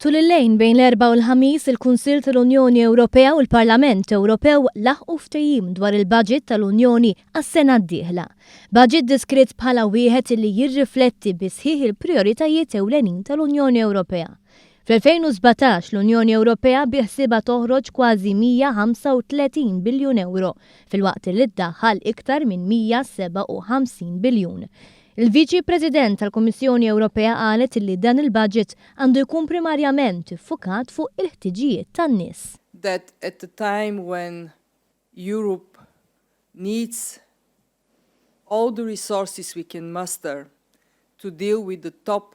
Tul il-lejn bejn l-Erbgħa u l-Ħamis, il-Kunsill tal-Unjoni Ewropea u l-Parlament Ewropew laħqu ftehim dwar il-baġit tal-Unjoni għas-sena d-dieħla. Baġit deskritt bħala wieħed li jirrifletti bis-sħiħ il-prijoritajiet ewlenin tal-Unjoni Ewropea. Fl-2017, l-Unjoni Ewropea biħsiebha toħroġ kważi 135 biljun ewro, filwaqt li ddaħħal iktar minn 157 biljun. Il-Viċi President tal-Kummissjoni Ewropea qalet li dan il-baġit għandu jkun primarjament iffukat fuq il-ħtiġijiet tan-nies. that at a time when Europe needs all the resources we can muster to deal with the top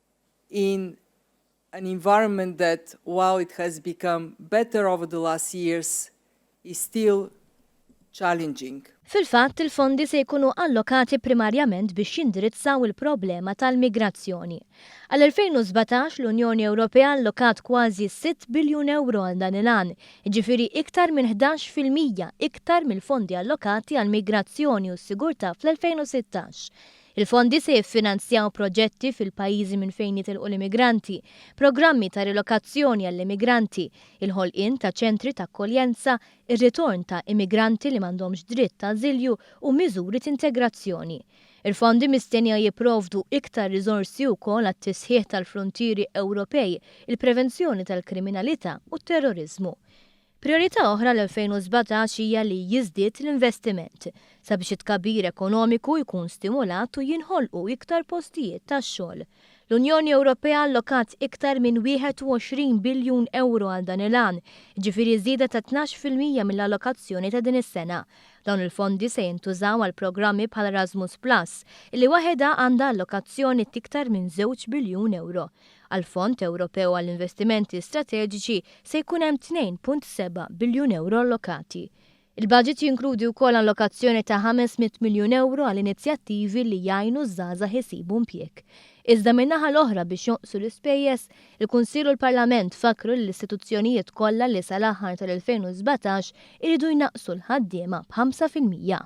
in an environment that while it has become better over the last years is still challenging. Fil-fatt, il-fondi se jkunu allokati primarjament biex jindirizzaw il-problema tal-migrazzjoni. Għall-2017, l-Unjoni Ewropea allokat kważi sitt biljun ewro għal dan il-għan, jiġifieri iktar minn ħdax fil-mija iktar mill-fondi allokati għall-migrazzjoni u s-sigurtà fl-2016. Il-fondi se jiffinanzjaw proġetti fil-pajjiżi minn fejn jitilqu l-immigranti, programmi ta' rilokazzjoni għall-immigranti, il-ħolqien ta' ċentri ta' akkoljenza, ir-ritorn ta' immigranti li m'għandhomx dritt ta' ażilju u miżuri t'integrazzjoni. Il-fondi mistennija jipprovdu iktar riżorsi wkoll għat-tisħiħ tal-fruntieri Ewropej, il-prevenzjoni tal-kriminalità u t-terroriżmu. Prijorità oħra l-2017 hija li jiżdied l-investiment sabiex it-tkabbir ekonomiku jkun stimulat u jinħolqu iktar postijiet tax-xogħol. L-Unjoni Ewropea allokat iktar minn 21 biljun ewro għal dan il-għan, jiġifieri żieda ta' tnax fil-mija mill-allokazzjoni ta' din is-sena. Dawn il-fondi se jintużaw għal programmi bħal Erasmus Plus, li waħedha għandha allokazzjoni t'iktar minn żewġ biljun ewro. Għall-Fond Ewropew għall-Investimenti Strateġiċi se jkun hemm 2.7 biljun ewro allokati. Il-baġit jinkludi wkoll allokazzjoni ta' 500 miljun ewro għal inizjattivi li jgħinu ż-żgħażagħ isibu impjieg. Iżda min-naħa l-oħra biex jonqsu l-ispejjeż, il-Kunsill u l-Parlament fakkru lill-istituzzjonijiet kollha li sal-aħħar tal-2017 iridu jnaqqsu l-ħaddiema b'ħamsa fil-mija.